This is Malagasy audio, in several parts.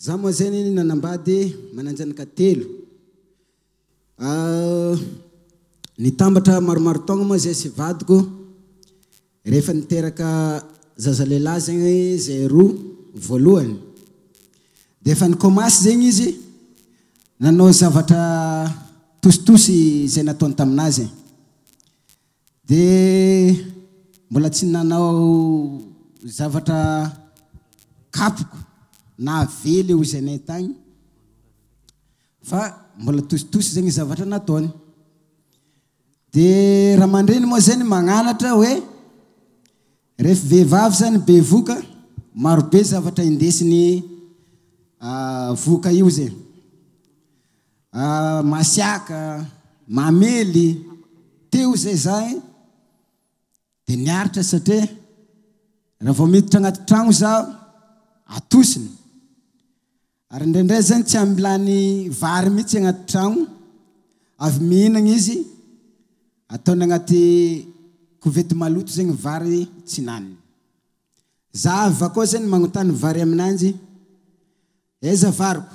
Jamo Azay anie nanambady e, manan-janaka telo. Nitambatra maromaro taogna moa zay sy vadiko, rehefa niteraka zaza lehilahy zegny zay roa voalohany, dia efa nikomasy zegny izy nanao zavatra tositosy izay nataony taminazy. Dia mbola tsy nanao zavatra kapoka na avela eo izay nahitany fa mbola tositosy izay ny zavatra nataony. Dia ramandreny moa izay ny magnanatra hoe rehefa vehivavy izany be voka, marobe zavatra indesiny voka io izay. Masiaka, mamely, teo izay za eh! Dia niaritra satria raha vao miditra anaty tragno zaho, atosiny. Ary indraindray zany tsy ampy lany vary mihitsy anaty tragno, avy mihinagna izy, ataony anaty kovety maloto zay ny vary tsy naniny. Za avy akao zany manontany vary aminanjy, aiza variko?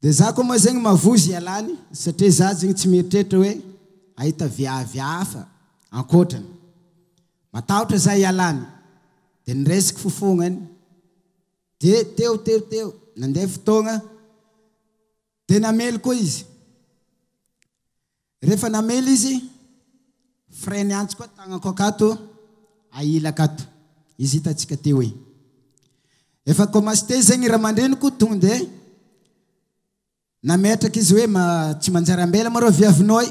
Dia za koa moa zegny mavozo ialany satria za zegny tsy mieritreritra hoe hahita viavy hafa ankoatrany. Matahotra za ialany. Dia niresaka fofognany. Dia teo teo teo nandeha fotoagna dia namely koa izy. Rehefa namely izy, frais miantsy koa tagnako akato aila akato, izy hitantsika teo e. Efa comasté zegny i ramandreniko tonga dia nametraka izy hoe ma tsy manjary ambela ma reo viavinao e.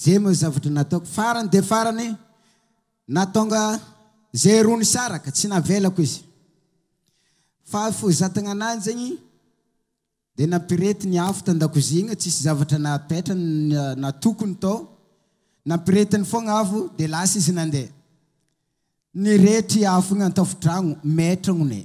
Jereo ny zavatra nataoko. Farany dia farany, nahatonga izay roa nisaraka, tsy navelako izy. Fa foizatagna anany zegny dia nampirety ny afo tan-dakozia igny, tsisy zavatra napetrany na tokony tao. Nampiretiny foagna afo dia lasa izy nandeha. Nirehitra i afo igny an-tafontragno, maitragno ny.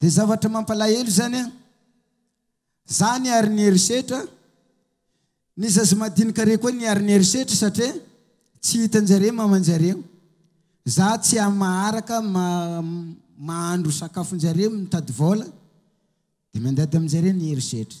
Dia zavatra mampalahelo izany an! Zany ary ny herisetra, ny zaza madinika rey koa ny ary ny herisetra satria tsy hitanjareo mamanjareo, za tsy ahy maharaka ma mahandro sakafonjareo mitady vola dia mandady aminjareo ny herisetra.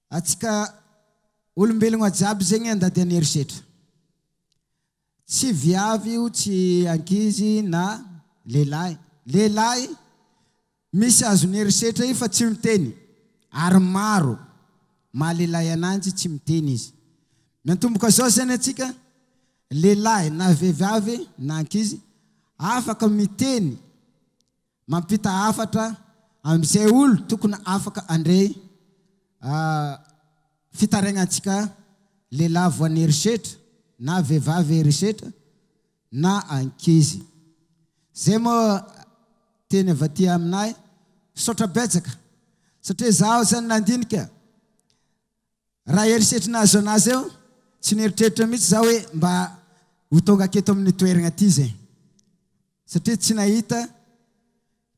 Atsika olombelogna jiaby zegny andady an herisetra. Tsy viavy io tsy ankizy na lehilahy. Lehilahy misy azony herisetra io fa tsy miteny ary maro maha lehilahy ananjy tsy miteny izy. Miantomboka zao zany atsika lehilahy na vehivavy na ankizy afaka miteny Mampita hafatra amin'izay olo tokony afaka handre fitarainantsika lehilahy voan'ny herisetra na vehivavy herisetra na ankizy. Zay moa teny avy aty aminay. Misaotra betsaka satria zaho zany nandinika Raha herisetry ny naha zona azy eo, tsy nieritreritra mihitsy izaho hoe mba ho tonga aketo amin'ny toeragna ty izay. Satria tsy nahita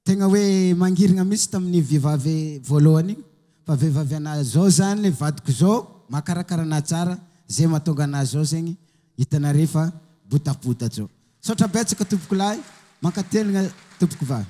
tegna hoe mangirigna mihitsy tamin'io vehivavy voalohany io. Fa vehivavy anahy zao zany, vadiko zao, mahakarakara anahy tsara, zay mahatonga anahy zao zegny, hitanare fa botabota zao. Misaotra betsaka tompoko lahy, mankateligna tompoko vavy.